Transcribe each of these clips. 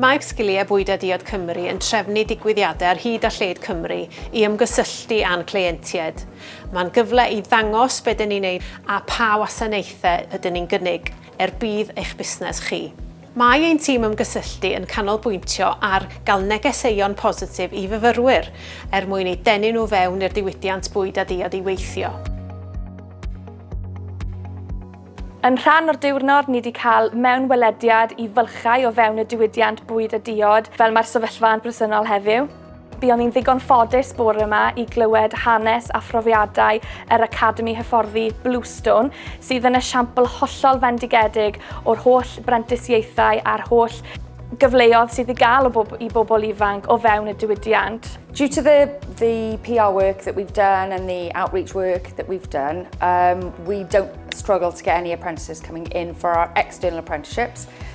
Mae Sgiliau Bwyd a Diod Cymru yn trefnu digwyddiadau ar hyd a lled Cymru i ymgysylltu â'n cleientiaid. Mae'n gyfle i ddangos be dyn ni'n ei wneud a pha wasanaethau ydyn ni'n gynnig er budd eich busnes chi. Mae ein tîm ymgysylltu yn canolbwyntio ar gael negeseuon positif i fyfyrwyr er mwyn eu denu nhw fewn i'r diwydiant bwyd a diod i weithio. Yn rhan o'r diwrnod, ni 'di cael mewnwelediad i fylchau o fewn y diwydiant bwyd a diod, fel mae'r sefyllfa yn bresennol heddiw. Buon ni'n ddigon ffodus bore yma i glywed hanes a phrofiadau yr Academi Hyfforddi Bluestone, sydd yn esiampl hollol fendigedig o'r holl brentisiaethau a'r holl gyfleodd sydd i gael o bob, i bobl ifanc o fewn y diwydiant. Due to the, the PR work that we've done and the outreach work that we've done, um, we don't struggle to get any apprentices coming in for our external apprenticeships.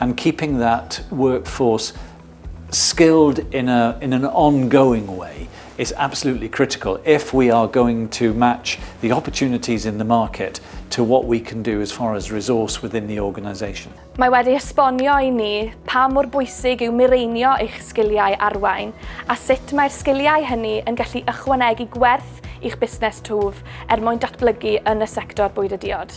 and keeping that workforce skilled in a in an ongoing way is absolutely critical if we are going to match the opportunities in the market to what we can do as far as resource within the organisation. Mae wedi esbonio i ni pa mor bwysig yw mireinio eich sgiliau arwain a sut mae'r sgiliau hynny yn gallu ychwanegu gwerth i'ch busnes twf er mwyn datblygu yn y sector bwyd a diod.